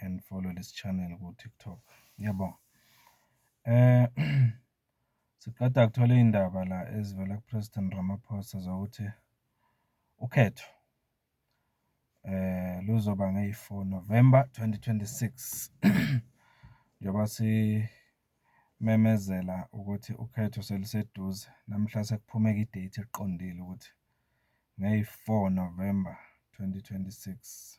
and follow this channel ku TikTok. Ngiyabonga. Eh siqeda kuthola indaba la ezivela ku President Ramaphosa zokuthi ukhetho eh luzoba ngeyi-4 November 2026 njengoba simemezela ukuthi ukhetho seliseduze namhla sekuphumeka idate eqondile ukuthi ngeyi-4 November 2026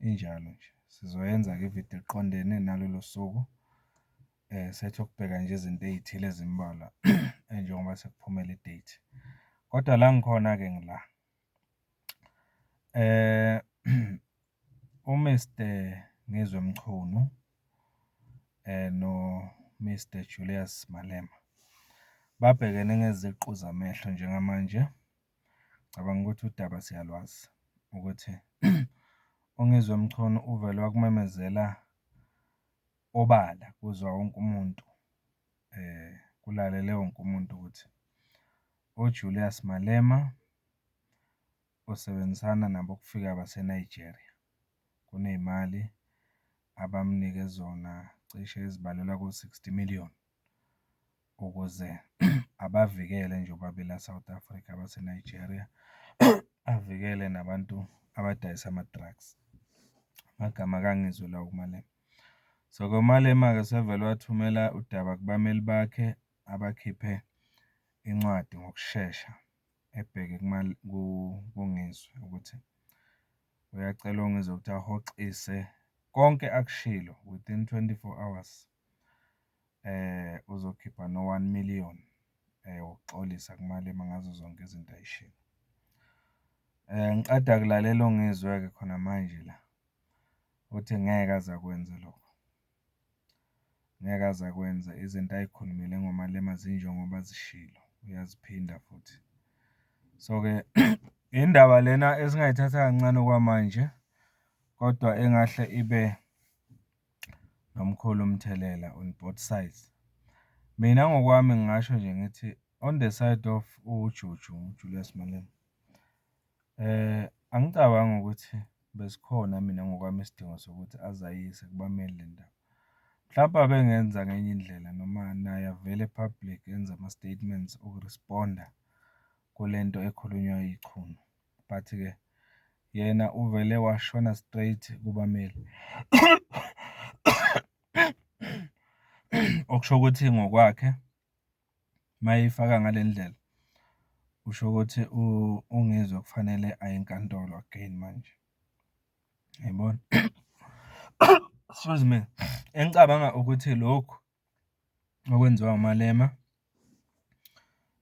injalo nje. Sizoyenza-ke ividiyo eqondene nalolo suku sethi ukubheka nje izinto ey'thile ezimbalwa njengoba sekuphumela i-date. Kodwa la ngikhona-ke ngila uMister Ngizwe Mchunu noMister Julius Malema babhekene ngeziqu zamehlo njengamanje. Ngicabanga ukuthi udaba siyalwazi ukuthi uNgizwe Mchunu uvele wakumemezela obala kuzwa wonke umuntu kulalele wonke umuntu ukuthi uJulius Malema usebenzisana nabokufika baseNigeria. Kuney'mali abamnike zona cishe ezibalelwa ko-sixty million ukuze abavikele njengoba bela South Africa abaseNigeria, avikele nabantu abadayisa ama-drugs. Amagama ake angizwe lawo kuMalema. So, ke uMalema-ke usevele wathumela udaba kubameli bakhe abakhiphe incwadi ngokushesha ebheke kuNgizwe ukuthi uyacela uNgizwe ukuthi ahoxise konke akushilo within twenty-four hours. uzokhipha no-one million wokuxolisa kuMalema ngazo zonke izinto ayishilo. Ngiqeda kulalela uNgizwe-ke khona manje la, uthi ngeke aze akwenze lokho. Ngeke aze akwenze, izinto ay'khulumile ngoMalema zinjengoba zishilo, uyaziphinda futhi. So-ke indaba lena esingayithatha kancane okwamanje kodwa engahle ibe. nomkhulu umthelela on both sides. Mina ngokwami ngingasho nje ngithi on the side of uJuju, Julius Malema, angicabangi ukuthi besikhona mina ngokwami isidingo sokuthi aze ayise kubameli le ndaba. Mhlampe abengenza ngenye indlela noma naye avele e-public enze ama-statements oku-respond-a kule nto ekhulunywa yiChunu. but ke yena uvele washona straight kubameli okusho ukuthi ngokwakhe mayifaka ngale ndlela usho ukuthi ungizwe kufanele aye enkantolo again manje yayibona excuse me engicabanga ukuthi lokhu okwenziwa uMalema,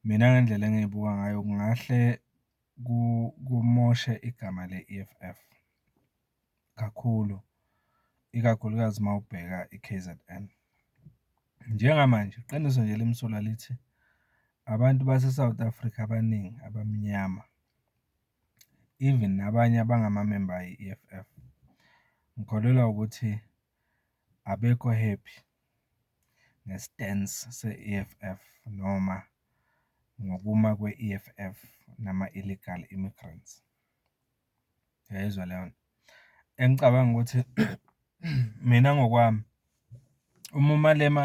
mina ngendlela engiyibuka ngayo kungahle kumoshe igama le-E_F_F kakhulu, ikakhulukazi uma ubheka i-K_Z_N. Njengamanje iqiniso nje elimsulwa lithi abantu base-South Africa abaningi abamnyama even nabanye abangamamemba ayi-E_F_F ngikholelwa ukuthi. abekho happy nge-stance se-E_F_F noma ngokuma kwe-E_F_F nama-illegal immigrants, uyayizwa leyo nto. Engicabanga ukuthi mina ngokwami uma uMalema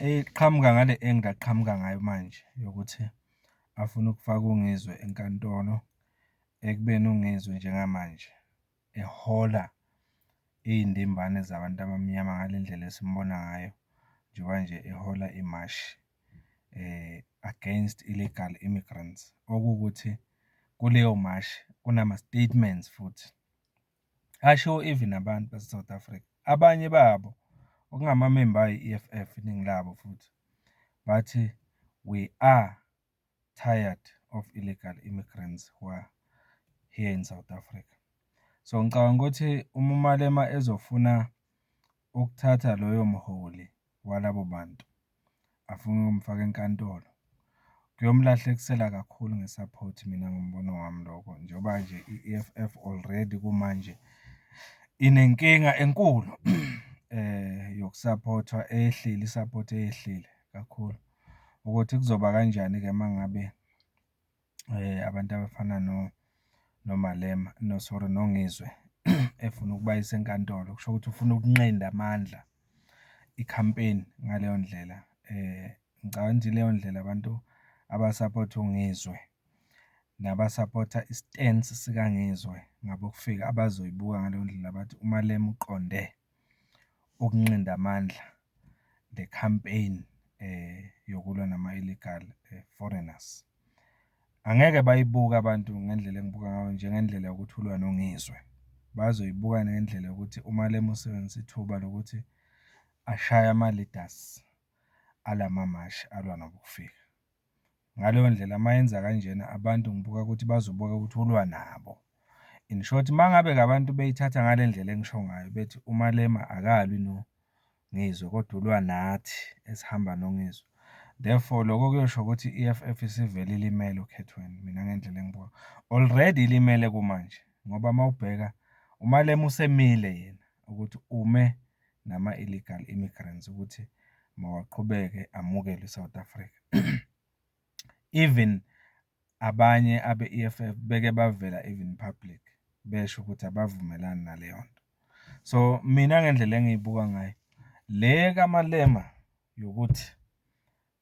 eqhamuka ngale angle aqhamuka ngayo manje yokuthi afuna ukufaka uNgizwe enkantolo ekubeni uNgizwe njengamanje. ehola iy'ndimbane zabantu abamnyama ngale ndlela esimbona ngayo njengoba nje ehola imashi against illegal immigrants. Okuwukuthi kuleyo mashi kunama-statements futhi ashiwo even abantu base-South Africa, abanye babo okungamamemba ayi-E_F_F iningi labo futhi bathi we are. tired of illegal immigrants who are here in South Africa. So ngicabanga ukuthi uma uMalema ezofuna ukuthatha loyo mholi walabo bantu afuna ukumfaka enkantolo kuyomlahlekisela kakhulu ngesupport mina ngombono wami lokho njengoba nje i-EFF already kumanje inenkinga enkulu eh yokusupportwa eyehlile isupport eyehlile kakhulu ukuthi kuzoba kanjani-ke uma ngabe abantu abafana noMalema, no sorry, noNgizwe efuna ukubayisa enkantolo. Kusho ukuthi ufuna ukunqenda amandla i-campaign ngaleyo ndlela. Ngicabanga ukuthi ileyo ndlela abantu abasaphotha uNgizwe nabasaphotha i-stance sikaNgizwe ngabokufika abazoyibuka ngaleyo ndlela bathi uMalema uqonde. ukunqinda amandla the campaign yokulwa nama-illegal foreigners. Angeke bayibuke abantu ngendlela engibuka ngayo njengendlela yokuthi ulwa noNgizwe, bazoyibuka ngendlela yokuthi uMalema usebenzise ithuba lokuthi ashaye ama-leaders alama mashi alwa nobokufika. Ngaleyo ndlela uma yenza kanjena abantu ngibuka ukuthi bazobuka ukuthi ulwa nabo. In short uma ngabe-ke abantu beyithatha ngale ndlela engisho ngayo bethi uMalema akalwi no Ngizwe kodwa ulwa nathi esihamba noNgizwe. Therefore lokho kuyosho ukuthi i-EFF isivele ilimele okhethweni mina ngendlela engibuka. Already ilimele kumanje ngoba uma ubheka uMalema usemile yena ukuthi ume nama-illegal immigrants ukuthi mawaqhubeke amukelwe e-South Africa. Even abanye abe-E_F_F beke bavela even public besho ukuthi abavumelani naleyo nto. So mina ngendlela engiyibuka ngayo le kaMalema yokuthi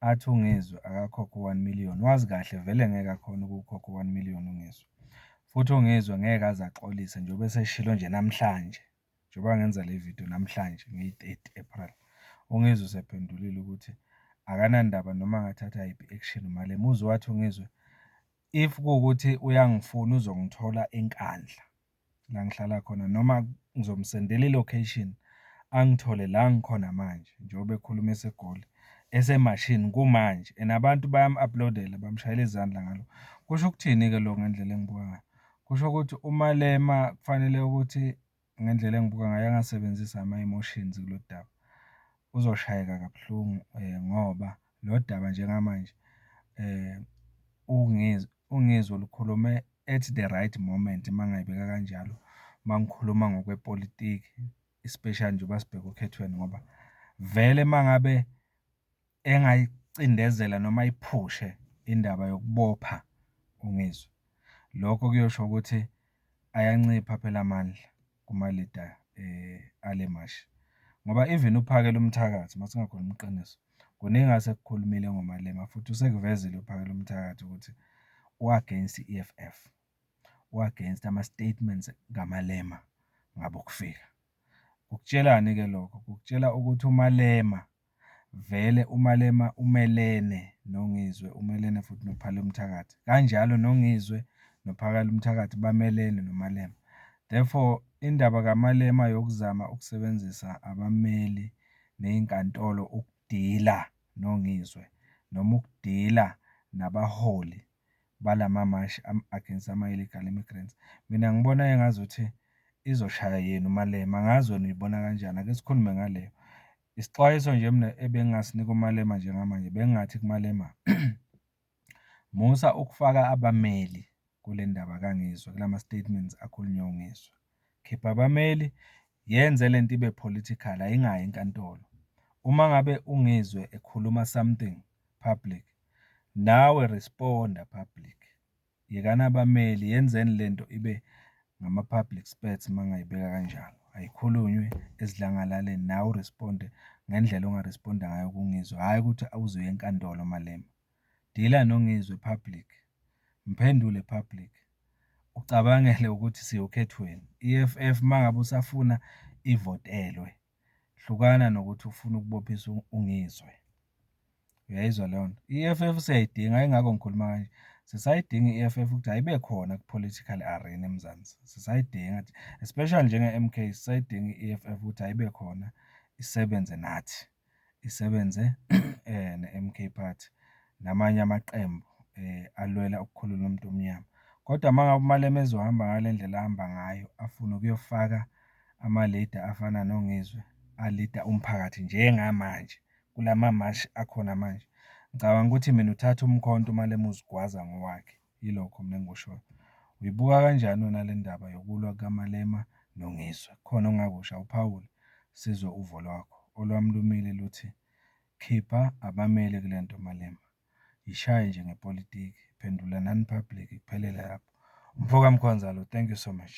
athi uNgizwe akakhokhe u-one million wazi kahle vele ngeke akhone ukuwukhokha u-one million uNgizwe. Futhi uNgizwe ngeke aze axolise njengoba eseshilo nje namhlanje. njengoba ngenza le video namhlanje ngeyi-30 April, uNgizwe usephendulile ukuthi akanandaba noma angathatha yiphi action uMalema. Uzwe wathi uNgizwe if kuwukuthi uyangifuna uzongithola eNkandla la ngihlala khona noma ngizomsendela i-location angithole la ngikhona manje njengoba ekhuluma eseGoli esemashini kumanje and abantu bayam-uploadela bamshayela izandla ngalo. Kusho ukuthini-ke lokho ngendlela engibuka ngayo? Kusho ukuthi uMalema kufanele ukuthi ngendlela engibuka ngayo angasebenzisa ama-emotions kulo daba. Uzoshayeka kabuhlungu ngoba lo daba njengamanje uNgizwe olukhulume at the right moment uma ngingayibeka kanjalo, uma ngikhuluma ngokwepolitiki especially njengoba sibheke okhethweni ngoba vele uma ngabe. engayicindezela noma ayiphushe indaba yokubopha uNgizwe. Lokho kuyosho ukuthi ayancipha phela amandla kumalida eh, ale mashi ngoba even uphakela umthakathi masingakhona umqiniso kuningi asekukhulumile ngomalema futhi usekuvezile uphakela umthakathi ukuthi u-against i-EFF u-against ama-statements kamalema ngabokufika kukutshelani-ke lokho kukutshelwa ukuthi umalema Vele uMalema umelene noNgizwe, umelene futhi noPhalo Mthakathi. Kanjalo noNgizwe noPhakalo Mthakathi bamelene noMalema. Therefore, indaba kaMalema yokuzama ukusebenzisa abameli nezinkantolo ukudila noNgizwe noma ukudila nabaholi balamamashi against ama-illegal immigrants. Mina ngibona engazuthi izoshaya yena uMalema, angazi wena uyibona kanjani, ake sikhulume ngaleyo. Isixwayiso nje mina ebengingasinika uMalema njengamanje bengingathi kuMalema musa ukufaka abameli kule ndaba kangizwe kulama statements akhulunywe ungizwe khipha abameli yenze le nto ibe political ayingayi enkantolo uma ngabe ungizwe ekhuluma something public nawe responda public Yekani abameli yenzeni lento ibe ngama public spurts mangayibeka kanjalo. Ayikhulunywe esidlangalaleni nawe uresponde ngendlela ongaresponda ngayo kungizwe hhayi ukuthi awuzoya enkantolo Malema. Dila nongizwe public. Mphendule public. Ucabangele ukuthi siyokhethweni. EFF mangabe usafuna ivotelwe hlukana nokuthi ufuna ukubophisa ungizwe uyayizwa leyo nto i-EFF siyayidinga ingakho ngikhuluma kanje sisayidinga i-EFF ukuthi ayibe khona ku-political arena eMzansi sisayidinga especially njenge-MK sisayidinga i-EFF ukuthi ayibe khona isebenze nathi isebenze neMK Party namanye amaqembu alwela ukukhulula umuntu omnyama. Kodwa uma ngabe uMalema ezohamba ngale ndlela ahamba ngayo afune ukuyofaka ama-leader afana noNgizwe alida umphakathi njengamanje kulama mashi akhona manje, ngicabanga ukuthi mina uthatha umkhonto uMalema uzigwaza ngowakhe. Yilokho mina engikushoyo. Uyibuka kanjani wena le ndaba yokulwa kukaMalema noNgizwe? Kukhona ongakusho? Awuphawule sizwe uvo lwakho. Olwami lumile luthi khipha abameli kule nto Malema. Yishaye nje ngepolitiki. Phendulanani public kuphelele lapho. Umfoka Mkhonzalo, thank you so much.